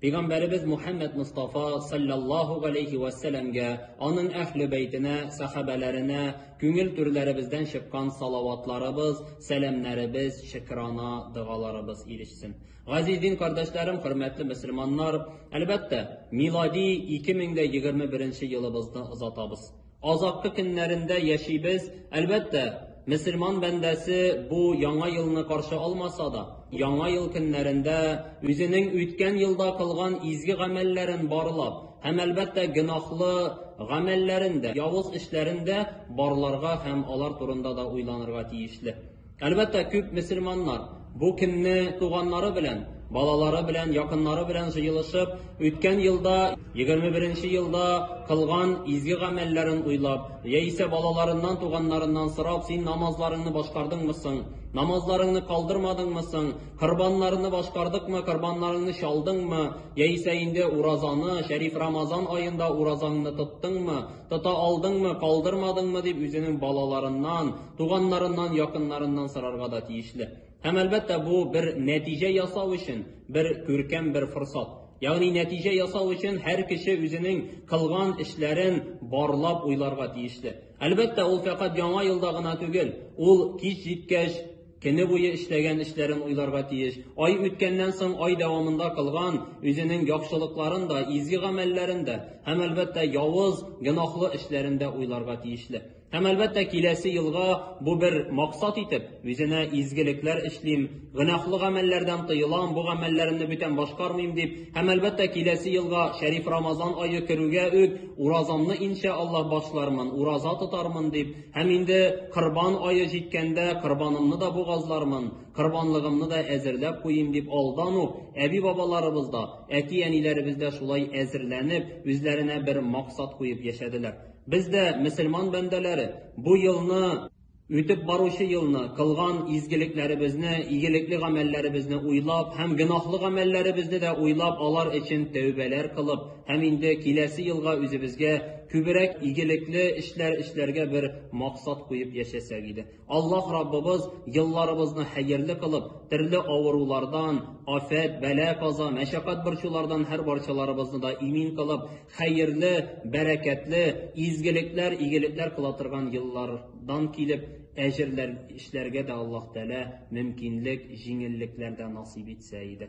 Пигамбәребез Мухәммәд Мостафа салләллаһу галәйһи вә сәләмгә, аның әһле бәйтенә, сәхабәләренә күңел түрләребездән чыккан салаватларыбыз, сәламнәребез, шөкерана догаларыбыз ирешсен. Газиз дин кардәшләрем, хөрмәтле мөселманнар, әлбәттә, милади 2021 елыбызны озатабыз. Азаккы көннәрендә яшибез. Әлбәттә, мөселман бәндәсе бу Яңа елны каршы алмаса да, Яңа ел көннәрендә үзенең үткән елда кылган изге гамәлләрен барлап һәм, әлбәттә, гөнаһлы гамәлләрен дә, явыз эшләрен дә барларга һәм алар турында да уйланырга тиешле. Әлбәттә, күп мөселманнар бу көнне туганнары белән, балалары белән, якыннары белән җыелышып, үткән елда, 21 нче елда кылган изге гамәлләрен уйлап, яисә балаларыннан, туганнарыннан сорап, син намазларыңны башкардыңмы соң, намазларыңны калдырмадыңмы соң, корбаннарны башкардыкмы, корбаннарыңны чалдыңмы, яисә инде уразаны, шәриф Рамазан аенда уразаңны тоттыңмы, Тота алдыңмы, калдырмадыңмы дип үзенең балаларыннан, туганнарыннан, якыннарыннан сорарга да тиешле. Һәм әлбәттә бу бер нәтиҗә ясау өчен бер күркәм бер форсат. Ягъни нәтиҗә ясау өчен һәр кеше үзенең кылган эшләрен барлап уйларга тиешле. Әлбәттә, ул фәкать яңа елда гына түгел, ул кич җиткәч, Көне буе эшләгән эшләрен уйларга тиеш. Ай үткәннән соң ай дәвамында кылган үзенең яхшылыкларын да, изге гамәлләрен дә һәм, әлбәттә, явыз, гөнаһлы эшләрен дә уйларга тиешле. Һәм, әлбәттә, киләсе елга бу бер максат итеп, үзенә изгелекләр эшлим, гөнаһлы гамәлләрдән тыелам, бу гамәлләремне бүтән башкармыйм дип, һәм, әлбәттә, киләсе елга Шәриф Рамазан ае керүгә үк уразамны, иншә Аллаһ, башлармын, ураза тотармын дип, Һәм инде Корбан ае җиткәндә, корбанымны да бугазлармын, корбанлыгымны да әзерләп куйыйм, дип алдан ук әби-бабаларыбыз да, әти-әниләребез дә шулай әзерләнеп, үзләренә бер максат куеп яшәделәр. Без дә, мөселман бәндәләре, бу елны, үтеп баручы елны, кылган изгелекләребезне, игелекле гамәлләребезне уйлап һәм гөнаһлы гамәлләребезне дә уйлап, алар өчен тәүбәләр кылып, Һәм инде киләсе елга үзебезгә күберәк игелекле эшләр эшләргә бер максат куеп яшәсәк иде. Аллаһ Раббыбыз елларыбызны хәерле кылып, төрле авырулардан, афәт, бәла-каза, мәшәкать-борчулардан һәр барчаларыбызны да имин кылып, хәерле, бәрәкәтле, изгелекләр, игелекләр кыла торган еллардан килеп, әҗерләр эшләргә дә Аллаһ Тәгалә мөмкинлек, җиңеллекләр дә насыйп итсә иде.